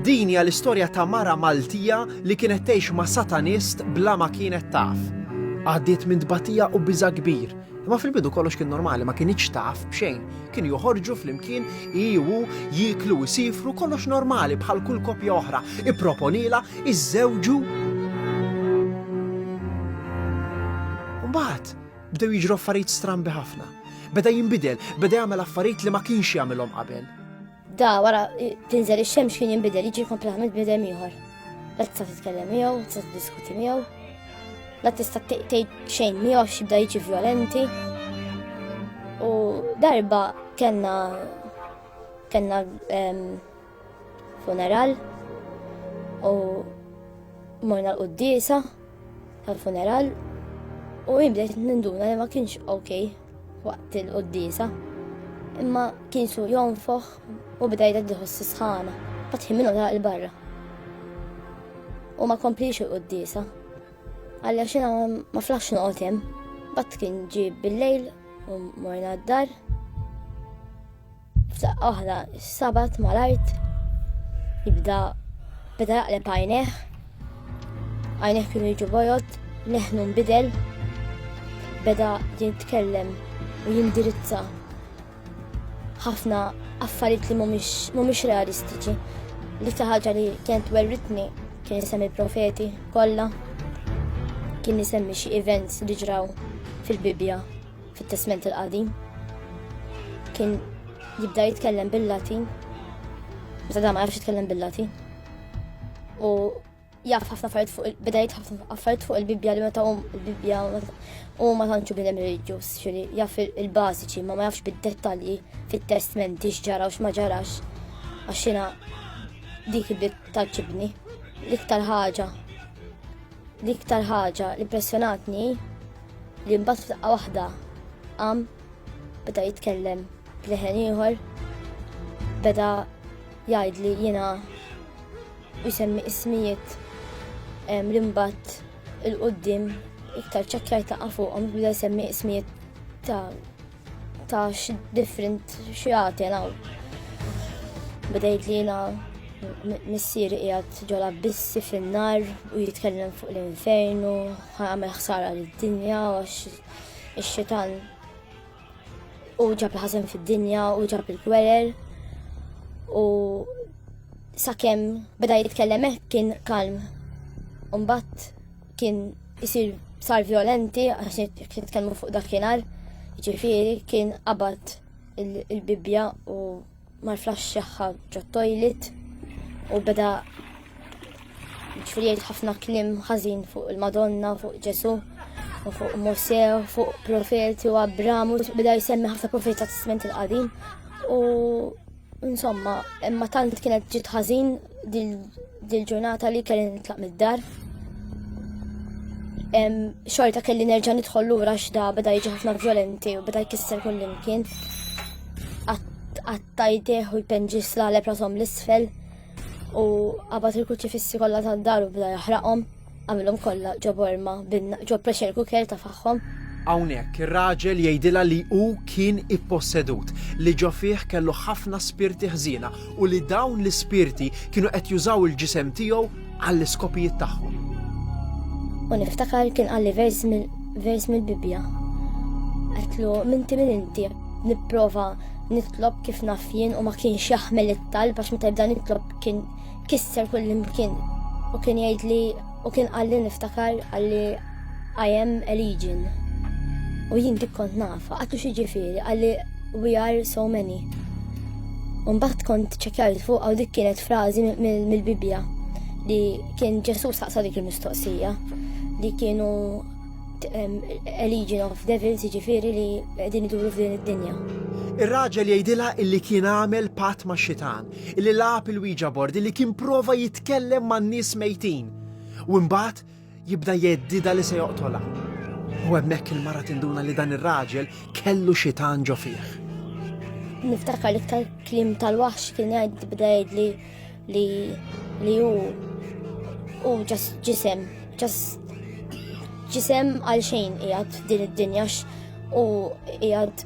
Din hija l-istorja ta' mara Maltija li kienet tgħix ma' satanist bla ma kienet taf. Għaddiet minn tbatija u biża kbir. Imma fil-bidu kollox kien normali, ma kienx taf b'xejn. Kien joħorġu flimkien, i u jiklu u sifru kollox normali bħal kull kopja oħra. Ipproponila, iżżewġu. Mbagħad bdew jiġru affarijiet strambi ħafna. Beda jinbidel, beda jagħmel affarijiet li ma kienx jagħmilhom qabel. Da wara tinżel ix-xemx kien jinbidel jiġi kompletament bidem ieħor. La tista' titkellem miegħu, tista' tiddiskuti miegħu, la tista' tgħid xejn miegħu x'ibda jiġi vjolenti. U darba kellna kellna ehm, funeral u morna l-qoddisa. tal-funeral u jien bdejt ninduna li ma kienx ok waqt il-qoddisa. Imma kien su jonfoħ u bda jgħid li ħossi sħana, fatħi minnu ta' il-barra. U ma komplix il-qoddisa. Għalli xina ma flax noqotem, bat kien ġib bil-lejl u morna d-dar. F'saq oħra, sabat mal-art jibda beda jaqleb għajneħ, għajneħ kienu jiġu bojot, neħnu nbidel, beda jitkellem u jindirizza ħafna affarijiet li mhumiex realistiċi. Li ta' ħaġa li kienet werritni kien isem il-profeti kollha, kien isemmi xi events li ġraw fil-Bibja. Fit-Testment il-Qadim kien jibda jitkellem bil-Latin, meta da ma jafx jitkellem bil-Latin. U jaf ħafna affarijiet fuq il-bida jitħaf affarijiet fuq il-Bibbja li meta hum il-Bibbja u ma tantxu bidem reliġjuż, xiri jaf il-bażiċi ma ma jafx bid-dettalji fit-testmenti x'ġara u x'ma ġarax. Għax dik il-bib taċibni, l-iktar ħaġa L-iktar ħaġa li impressjonatni li mbagħad f'daqqa waħda qam beda jitkellem b'leħen ieħor beda jgħid li jiena jisemmi ismijiet li mbagħad il-qudiem iktar ċekkjajt ta' fuqhom beda jsemmi ismijiet ta' Ta' different xjati għanaw. Bidejt li jina missier jgħat ġola bissi fin-nar u jitkellem fuq l-infernu, għamel ħsara l-dinja għax ix-xitan u ġab ħazen fid-dinja u ġab il-gwerer u sakemm beda jitkellem kien kalm. Umbat kien isir sar violenti għax nitkellmu fuq dakinhar, ġifieri kien qabad il-bibja u mal-flax xaħħa ġot-toilet u beda ġifieri ħafna klim ħażin fuq il-Madonna, fuq Ġesu, u fuq Mose, fuq profeti u Abramu, beda jisemmi ħafna profeti ta' Testament il-Qadim u Insomma, imma tant kienet ġiet ħażin dil-ġurnata li kelli nitlaq mid-dar. Xorta kelli nerġa' nidħol lura x'da beda jiġi ħafna vjolenti u beda jkisser kull imkien. Għattajtih u jpenġi slaleb rasom l-isfel u għabat il-kuċifissi kollha tad-dar u beda jaħraqhom. Għamilhom kollha ġo borma bin ġo pressure cooker ta' faħħom. Hawnhekk ir-raġel jgħidilha li hu kien ippossedut, li ġo fih kellu ħafna spirti ħżiena u li dawn l-ispirti kienu qed jużaw il-ġisem tiegħu għall-iskopijiet tagħhom. U niftakar kien qalli vers vers mill-Bibbja. Għetlu, minti minn inti, nipprova nitlob kif naf jien u ma kienx jaħmel it-talb għax meta jibda nitlob kien Kisser kull imkien u kien jgħid li u kien qalli niftakar għalli I am a legion. U jien dik kont nafa, għattu xi ġifieri għalli we are so many. Umbat kont ċekjajt fuq għaw dik kienet frażi mill-Bibbja li kien Ġesu saqsa dik il-mistoqsija li kienu a legion of devils ġifiri li din iduru f'din id-dinja. Ir-raġel jgħidilha illi kien għamel pat ma' xitan li lagħab il-Ouija board, li kien prova jitkellem man-nies mejtin u mbagħad jibda jeddida li se joqtolha. U hemmhekk il-mara tinduna li dan ir-raġel kellu xi tanġo fih. Niftakar li ktar klim tal-waħx kien jgħid bda jgħidli li li hu u ġas ġisem, ġas ġisem għal xejn qiegħed din id-dinja u qiegħed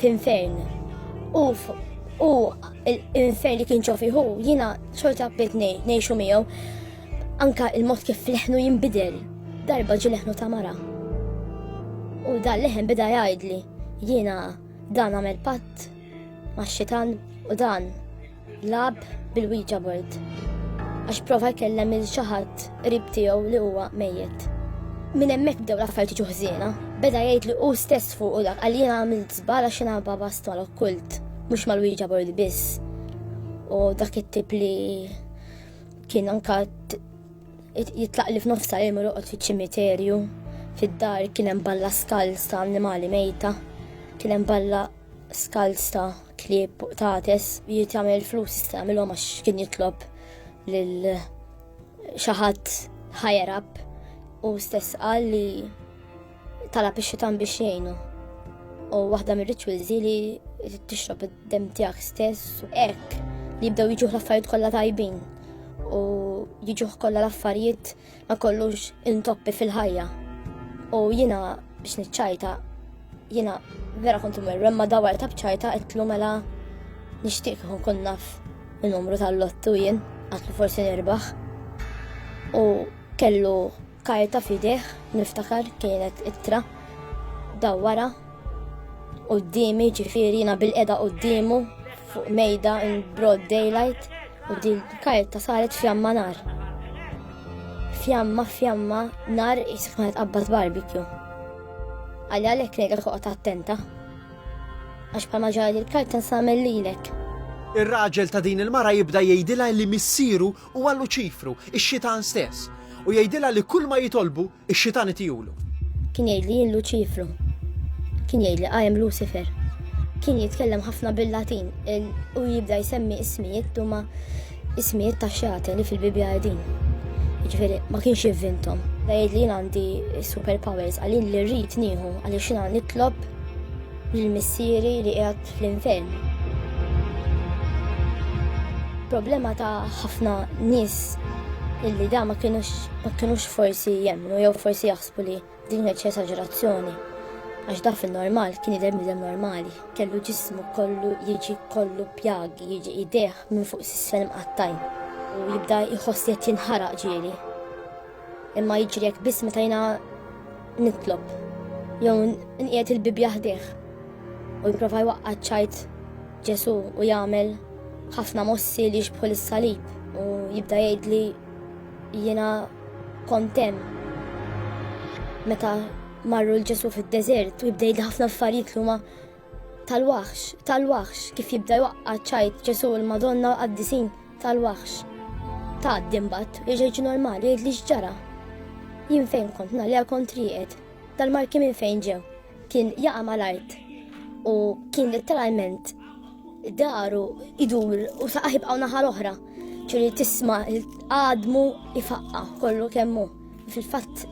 f'infern. U u l-infern li kien ċofi hu jiena xorta bdiet ngħixu miegħu anka il-mod kif leħnu jinbidel. Darba ġi leħnu ta' mara. U dan leħen bida jgħidli jiena dan għamel patt ma' xitan u dan Lab bil-Ouija board għax prova jkellem il xi ħadd qrib tiegħu li huwa mejjet. Minn hemmhekk bdew l-affarijiet jiġu ħżiena. Beda jgħid li hu stess fuq u dak għalli jiena għamilt żbal għax jiena babas tal-okkult, mhux mal-Ouija board biss. U dak it-tip li kien anka jitlaq li f'nofsa li mur fiċ-ċimiterju fid-dar kien hemm balla skals ta' annimali mejta, kien hemm balla skalz ta' klieb tates jiet jagħmel flus jista' jagħmilhom għax kien jitlob lil xi ħadd higher up u stess qal li talab ix-xitan biex jgħinu. U waħda mir-rituals li tixrob id-dem tiegħek stess u hekk li jibdew jiġuh l-affarijiet kollha tajbin u jiġuh kollha l-affarijiet ma kollux intoppi fil-ħajja. U jina biex nitċajta, jina vera kontu merru, imma dawar ta' bċajta għetlu mela nishtiq kun kun naf il-numru tal-lottu jien, għatlu forsi nirbaħ. U kellu karta fideħ, niftakar kienet ittra, dawara, u d-dimi ġifiri jina bil-eda u d-dimu fuq mejda in broad daylight U din karta saret fjamma nar. Fjamma, fjamma, nar jisif kienet qabbad barbecue. Għalli għalek nejda toqgħod attenta. Għax bħalma ġara l-karta nsamel lilek. Ir-raġel ta' din il-mara jibda jgħidilha li missieru huwa Luċifru, ix-xitan stess, u jgħidilha li kull ma jitolbu Ix-xitan itihulu. Kien jgħid li jien Luċifru. Kien jgħid li I am Lucifer. Kien jitkellem ħafna bil-Latin u jibda jsemmi ismijiet huma ismijiet ta' xjate li fil-Bibbja qegħdin. Jiġifieri ma kienx jivvintom. Da jgħid li jien għandi superpowers għalin li rrid nieħu għaliex jiena nitlob Lil missieri li qiegħed fl-infern. Problema ta' ħafna nies illi da ma kienux forsi jemmnu jew forsi jaħsbu li din kienet esaġerazzjoni għax da fin-normal kien idher bniedem normali. Kellu ġismu kollu jiġi kollu pjagi, jiġi idejh minn fuq s-sisfel mqattajn u jibda jħoss li qed jinħaraq ġieli. Imma jiġri hekk biss meta jiena nitlob jew nqiegħed il-Bibbja ħdejh u jipprova jwaqqa' ċajt Ġesu u jagħmel ħafna mossi li jixbħu lis-salib u jibda jgħidli jiena kont hemm. Meta marru l-Ġesu fid-deżert u jibda jgħidli ħafna affarijiet li huma Tal-waħx, tal-waħx, kif jibda jwaqqa ċajt ġesu l-Madonna u għaddisin, tal-waħx. Ta' dimbat, iġeġi normali, jidli xġara. Jien fejn kont nali għal kontrijiet, tal-marki minn fejn ġew, kien jaqa mal-art u kien letteralment daru idur u saqaħib għawna ħal oħra, ċuri tisma għadmu ifaqqa kollu kemmu. Fil-fatt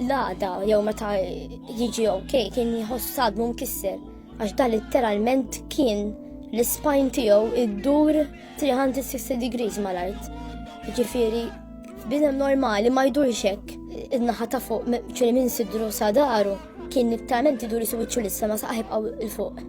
l-għada jew meta jiġi ok kien jħoss sadmu mkisser għax dan literalment kien l-ispajn tiegħu iddur 360 degrees mal-art. Ġifieri bidem normali ma jdurx hekk. Id-naħa ta' fuq ċili minn sidru sa daru kien nittalment idur jisu wiċċu lissa ma saħib għaw il-fuq.